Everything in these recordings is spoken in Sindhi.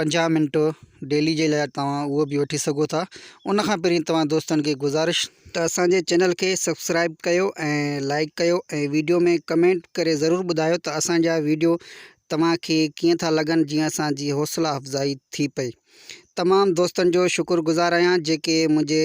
پنجاهه منٽ ڊيلي جي لاء توهان اهو به وٺي سگهو ٿا ان کان پهرين توهان دوستن کي گذارش ته اسان جي چينل کي سبسڪرائب ڪيو ۽ لائڪ ڪيو ۽ ويڊيو ۾ ڪمينٽ ڪري ضرور ٻڌايو ته اسان جا ويڊيو توهان کي ڪيئن ٿا لڳن جيئن اسان جي حوصلا افزائي ٿي پئي تمام دوستن جو شڪر گذار آهيان جيڪي منهنجي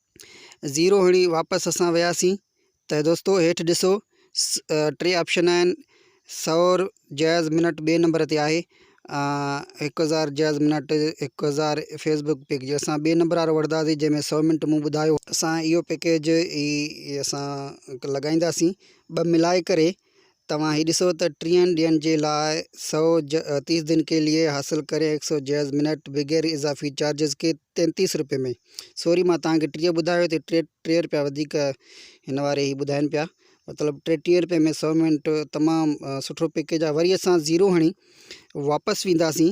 زيرو هڻي واپس اسان وياسين ته دوستو هيٺ ڏسو ٽي آپشن آهن سور جائز منٽ ٻئي نمبر تي آهي هڪ هزار جائز منٽ هڪ هزار فيسبوڪ پيڪ جي اسان ٻئي نمبر وارو وٺنداسي جنهن ۾ سو منٽ مون ٻڌايو اسان اهو پيڪيج اي اسان لڳائينداسين ٻه ملائي ڪري توهان هي ڏسو ته ٽيهن ڏينهن جي لاء سؤ ج، تيس دن ڪي ليي، حاصل ڪري هڪ سؤ جيز، منٽ، بغير اضافي چارجز ڪي تينتيس روپين ۾. سوري مان توهان کي ٽيهه ٻڌايو ته ٽي ٽيهه روپيا وڌيڪ هن واري هي ٻڌائين پيا مطلب ٽيهه روپين ۾ سؤ منٽ تمام سٺو پيڪيج آهي وري اسان زيرو هڻي واپس وينداسين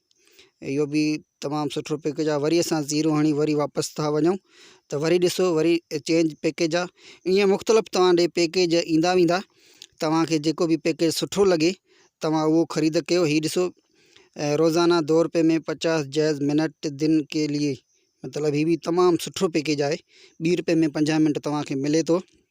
اهو به تمام سٺو پيڪيج آهي وري اسان زيرو هڻي وري واپس ٿا وڃون ته وري ڏسو وري چينج پيڪيج آهي ائين مختلف توهان ڏي پيڪيج ايندا ويندا توهانکي جيڪو به پيڪيج سٺو لڳي توهان اهو خريد ڪيو هي ڏسو روزانه دو روپئي ۾ پچاس جائز منٽ دن ڪي لي مطلب هي به تمام سٺو پيڪيج آهي ٻي روپئي ۾ پنجاهه منٽ توهانکي ملي ٿو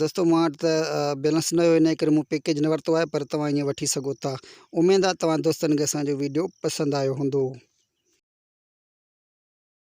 دوستو مان وٽ ته بيلنس نه هيو ان ڪري مون پيڪيج نه ورتو آهي پر توهان ائين وٺي سگهو ٿا اميد آهي توهان دوستن کي اسان جو ويڊيو پسند آيو هوندو